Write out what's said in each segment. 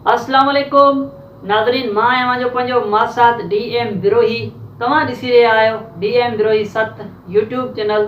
اسلام عليڪم ناظرين مان آهيان اوهان جو پنهنجو ماسات ڊي ايم بروهي توهان ڏسي رهيا آهيو ڊي ايم بروهي ست يوٽيوب چينل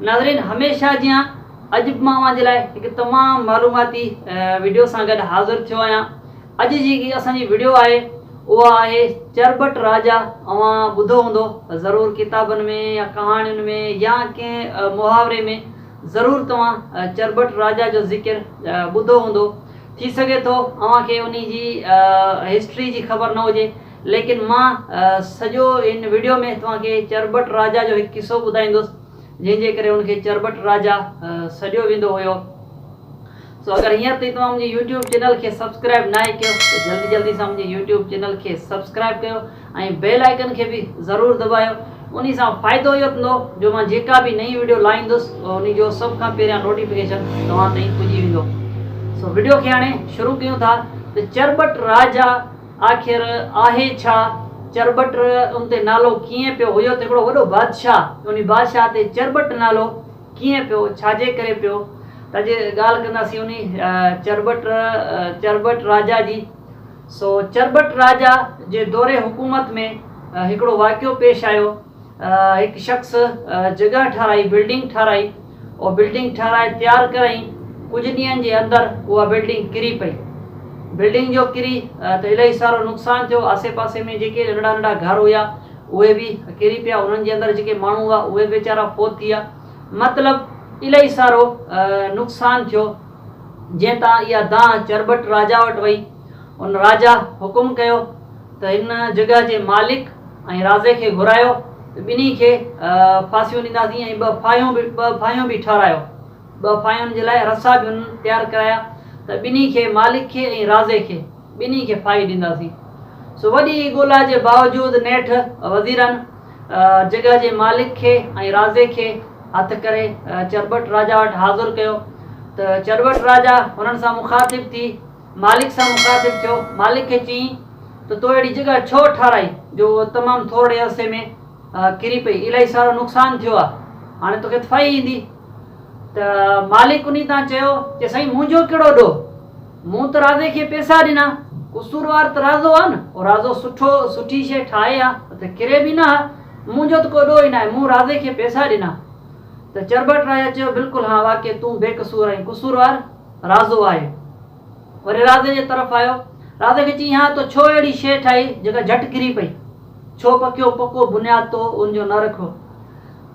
ناظرين هميشه جيان اڄ به مان اوهان جي لاء هڪ تمام معلوماتي وڊيو سان گڏ حاضر ٿيو آهيان اڄ جيڪي اسان جي وڊيو آهي اها آهي چربٽ راجا اوهان ٻڌو هوندو ضرور ڪتابن ۾ يا ڪهاڻين ۾ يا ڪنهن محاوري ۾ ضرور توهان چرٻٽ راجا جو ذڪر ٻڌو هوندو. ٿي سگهي ٿو اوهان کي انهي جي هسٽري جي خبر نه هجي ليڪن مان سڄو ان وڊيو ۾ توهان کي چرٻٽ راجا جو هڪ قصو ٻڌائيندس جنهن جي ڪري ان کي چرٻٽ راجا سڏيو ويندو هيو. سو اگر هينئر تائين توهان منهنجي يوٽيوب چينل کي سبسڪرائب ناهي ڪيو ته جلدي جلدي سان منهنجي يوٽيوب چينل کي سبسڪرائب ڪيو ۽ بيل آئيڪن کي به ضرور دٻايو انهي سان فائدو اهو ٿيندو جو مان جيڪا به نئين وڊيو لائيندس انهي جو سڀ کان پهريان نوٽيفڪيشن توهان تائين پڄي ويندو سو وڊيو کي هاڻي شروع ڪيون ٿا ته چرٻٽ راجا آخر آهي ڇا چرٻٽ ان تي نالو ڪيئن پيو هيو ته هڪڙو وڏو بادشاهه انهي بادشاهه تي چرٻٽ نالو ڪيئن پيو، ڇا جي ڪري پيو، ته جي ڳالهه ڪنداسين انهي چرٻٽ چرٻٽ راجا جي، سو چرٻٽ راجا جي دور حڪومت ۾ هڪڙو واقعو پيش آيو، هڪ شخص جڳهه ٺهرائي، بلڊنگ ٺهرائي، او بلڊنگ ٺهرائي تيار ڪرئين، ڪجهه ڏينهن جي اندر اها بلڊنگ ڪري پئي، بلڊنگ جو ڪري ته الائي سارو نقصان ٿيو، آسي پاسي ۾ جيڪي ننڍڙا ننڍڙا گهر هيا. اهي به ڪري پيا انهن جي اندر جيڪي ماڻهو هئا اهي به ويچارا فوت ٿي ويا مطلب الائي سارو نقصان ٿيو جنهن تان اها دانهن چرٻٽ راجا وٽ وئي ان راجا حڪم ڪيو ته هن جڳهه جي مالڪ ۽ رازي کي گهرايو ته ٻنهي کي ڦاسيون ڏينداسين ۽ ٻه ڦاهيون به ٻه ڦاهيون به ٺارايو ٻه پايون جي لاء رسا به هن تيار ڪرايا ته ٻنهي کي، مالڪ کي ۽ رازي کي، ٻنهي کي ڦاهي ڏينداسين. سو وڏي ڳولا جي باوجود نيٺ وزيرن جڳهه جي مالڪ کي ۽ رازي کي هٿ ڪري چرٻٽ راجا وٽ حاضر ڪيو ته چرٻٽ راجا هنن سان مخاطب ٿي مالڪ سان مخاطب ٿيو مالڪ کي چيائين ته تو اهڙي جڳهه ڇو ٺاراهي جو اهو تمام ٿورڙي عرصي ۾ ڪري پئي الائي سارو نقصان ٿيو آهي هاڻي توکي ڦاهي ايندي. ته مالڪ انهي تان چيو ته سائين منهنجو ڪهڙو ڏوهه، مون ته رازي کي پيسا ڏنا، قصوروار ته رازو آ نه، او رازو سٺو سٺي شيء ٺاهي آ ته ڪري به نه آ، منهنجو ته ڪو ڏوهه ئي ناهي، مون رازي کي پيسا ڏنا. ته چرٻٽ راجا چيو بلڪل هان واقعي تون بي قصور ۽ قصوروار رازو آهي. وري راڌي جي طرف آيو. راڌي کي چيائين، ها تو ڇو اهڙي شيء ٺاهي، جيڪا جهٽ ڪري پئي؟ ڇو پڪيو پڪو بنياد تو ان جو نه رکيو؟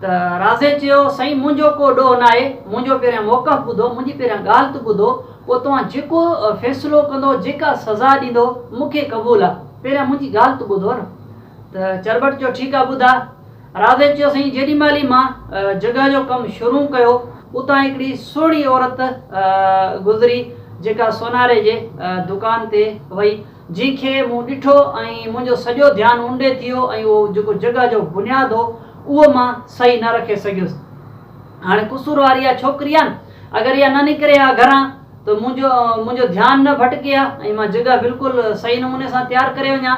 ته راڌي چيو، سائين منهنجو ڪو ڏوهه ناهي، منهنجو پهريان موقف ٻڌو، منهنجي پهريان ڳالهه ته ٻڌو، پوء توهان جيڪو فيصلو ڪندو، جيڪا سزا ڏيندو، مون کي قبول آ، پهريان منهنجي ڳالهه ته ٻڌو نه. ته چرٻٽ چيو، ٺيڪ آ ٻڌاء. رازي چيو سائين جيڏي مهل ئي مان جڳهه جو ڪم شروع ڪيو اتان هڪڙي سهڻي عورت گذري جيڪا سوناري جي دڪان تي وئي جنهن کي مون ڏٺو ۽ منهنجو سڄو ڌيان ان ڏي ٿي ويو ۽ اهو جيڪو جڳهه جو بنياد هو اهو مان صحيح نه رکي سگهيس هاڻي قصوروار اها ڇوڪري آهي اگر اها نه نڪري ها گهران ته منهنجو منهنجو ڌيان نه ڀٽڪي ها ۽ مان جڳهه بلڪل صحيح نموني سان تيار ڪري وڃان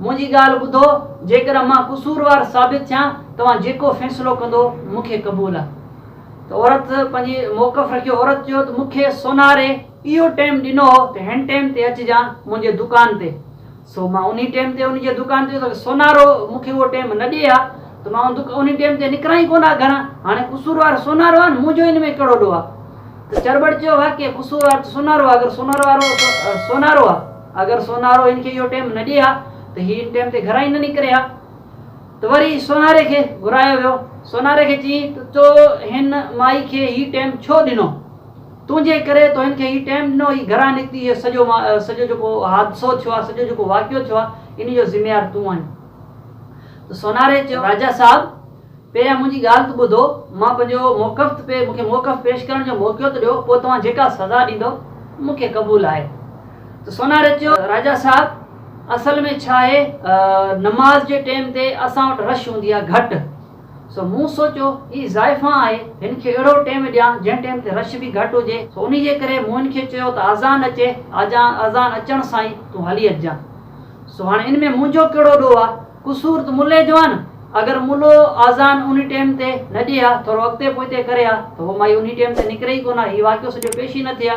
منهنجي ڳالهه ٻڌو، جيڪڏهن مان قصوروار ثابت ٿيان، توهان جيڪو فيصلو ڪندو، مون کي قبول آهي. ته عورت پنهنجي موقف رکيو. عورت چيو ته مون کي سوناري اهو ٽيم ڏنو هو ته هن ٽيم تي اچجان منهنجي دڪان تي، سو مان انهي ٽيم تي ان جي دڪان تي ويس. سونارو مون کي اهو ٽيم نه ڏئي ها ته مان انهي ٽيم تي نڪران ئي ڪونه ها گهران. هاڻي قصوروار سونارو آهي نه، منهنجو ان ۾ ڪهڙو ڏوهه آهي. ته چرٻڙ چيو واقعي قصوروار ته سونارو آهي، اگر سونارو وارو سونارو آهي. اگر سونارو هن کي اهو ٽيم نه ڏئي ها ته هي ان ٽيم تي گهران ئي نه نڪري ها ته وري سوناري کي گهرايو ويو. سوناري کي چيائين ته تو هن مائي کي هي ٽيم ڇو ڏنو؟ تنهنجي ڪري تو هن کي هي ٽيم ڏنو، هي گهران نڪتي، هي سڄو سڄو جيڪو حادثو ٿيو آهي، سڄو جيڪو واقعو ٿيو آهي، ان جو ذميوار تون آهين. ته سوناري چيو راجا صاحب پهريان منهنجي ڳالهه ته ٻڌو، مان پنهنجو موقف ته پي، مون کي موقف پيش ڪرڻ جو موقعو ته ڏيو، پوء توهان جيڪا سزا ڏيندؤ، مون کي قبول آهي. ته سوناري چيو، راجا صاحب! اصل ۾ ڇا آهي، نماز جي ٽيم تي اسان وٽ رش هوندي آهي گهٽ، سو مون سوچيو، هي زائفان آهي، هن کي اهڙو ٽيم ڏيان، جنهن ٽيم تي رش به گهٽ هجي، سو انهي جي ڪري مون هن کي چيو ته آذان اچي، آذان اچڻ سان ئي تون هلي اچجانء. سو هاڻي ان ۾ منهنجو ڪهڙو ڏوهه آهي، قصور ته ملئي جو آ نه. اگر ملو آذان انهي ٽيم تي نه ڏئي ها، ٿورو اڳتي پوئتي ڪري ها ته هو مائي انهي ٽيم تي نڪري ئي ڪونه ها. هي واقعو سڄو پيش ئي نه ٿئي ها.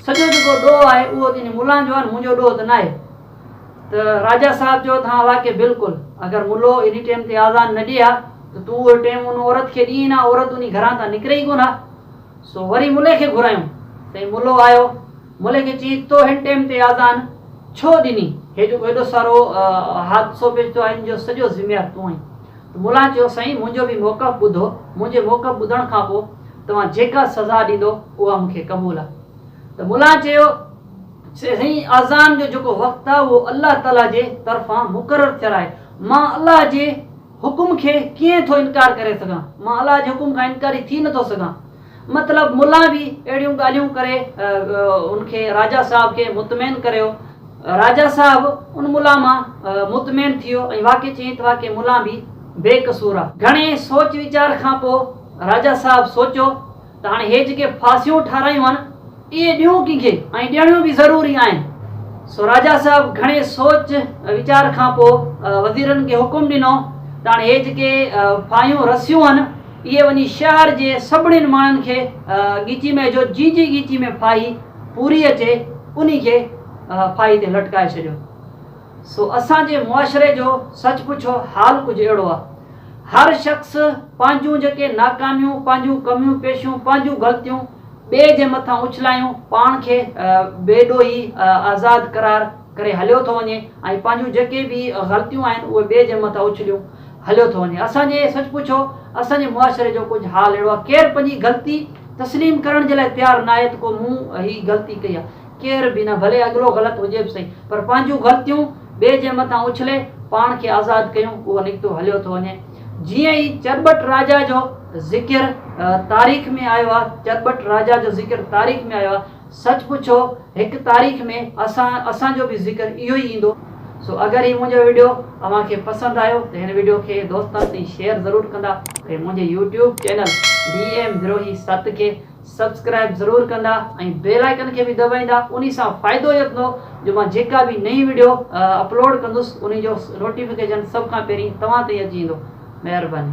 سڄو جيڪو ڏوهه آهي اهو ته انهي ملان جو آ نه، منهنجو ڏوهه ته ناهي. ته راجا صاحب چيو ته هان واقعي بلڪل. اگر ملو انهي ٽيم تي آذان نه ڏئي ها ته تون اهو ٽيم ان عورت کي ڏئين ها. عورت انهي گهران تان نڪري ئي ڪونه ها. سو وري ملئي کي گهرايون. سائين ملو آيو. ملي کي چي تو هن ٽيم تي آذان ڇو ڏني هي جيڪو هيڏو سارو حادثو پيش ٿيو آهي ان جو سڄو ذميوار تون آهين ته ملا چيو سائين منهنجو به موقف ٻڌو منهنجي موقف ٻڌڻ کان پوء توهان جيڪا سزا ڏيندو اها مونکي قبول آهي ته ملا چيو سائين آذان جو جيڪو وقت آهي اهو الله تعالي جي طرفان مقرر ٿيل آهي مان الله جي حڪم کي ڪيئن ٿو انڪار ڪري سگهان؟ مان الله جي حڪم کان انڪاري ٿي نه ٿو سگهان. مطلب ملان به اهڙيون ڳالهيون ڪري ان کي راجا صاحب کي مطمئن ڪريو. راجا صاحب ان ملان مان مطمئن ٿيو ۽ واقعي چيائين ته واقعي ملان به بي قصور آ. گهڻي سوچ ويچار کان پوء راجا صاحب سوچيو. ته هاڻي هي جيڪي ڦاسيون ٺارايون آهن، اهي ڏيون ڪنهن کي ۽ ڏيڻيون به ضروري آهن. سو راجا صاحب گهڻي سوچ ويچار کان پوء وزيرن کي حڪم ڏنو ته هاڻي هي جيڪي ڦاهيون رسيون آهن، اهي وڃي شهر جي سڀنين ماڻهن کي ڳيچي ۾ وجهو، جي جي ڳيچي ۾ ڦاهي پوري اچي، انهي کي ڦاهي تي لٽڪائي ڇڏيو. سو اسان جي معاشري جو سچ پچ حال ڪجهه اهڙو آ. هر شخص پنهنجون جيڪي ناڪاميون، پنهنجون ڪميون پيشيون، پنهنجون غلطيون ٻئي جي مٿان اڇلايون پاڻ کي بي ڏوهي آزاد قرار ڪري هليو ٿو وڃي ۽ پنهنجون جيڪي به غلطيون آهن اهي ٻئي جي مٿان اڇليون هليو ٿو وڃي. اسان جي سچ پچ اسان جي معاشري جو ڪجهه حال اهڙو آ. ڪير پنهنجي غلطي تسليم ڪرڻ جي لاء تيار ناهي ته ڪو مون هي غلطي ڪئي آ. ڪير به نه ڀلي اڳلو غلط هجي به سهي پر پنهنجون غلطيون ٻئي جي مٿان اڇلي پاڻ کي آزاد ڪيون اهو نڪتو هليو ٿو وڃي جيئن ئي چرٻٽ راجا جو ذڪر تاريخ ۾ آيو آهي چرٻٽ راجا جو ذڪر تاريخ ۾ آيو آهي سچ پڇو هڪ تاريخ ۾ اسان اسان جو به ذڪر اهو ئي ايندو سو اگر هي منهنجو ويڊيو اوهان کي پسند آيو ته هن ويڊيو کي دوستن تائين شيئر ضرور ڪندا ۽ منهنجي يوٽيوب چينل ڊي ايم دروهي ست کي سبسڪرائب ضرور ڪندا ۽ بيل آئيڪن کي به دٻائيندا انهي سان فائدو اهو ٿيندو جو مان جيڪا به نئين وڊيو اپلوڊ ڪندس انهي جو نوٽيفڪيشن سڀ کان پهرين توهان تائين اچي ويندو مهرباني.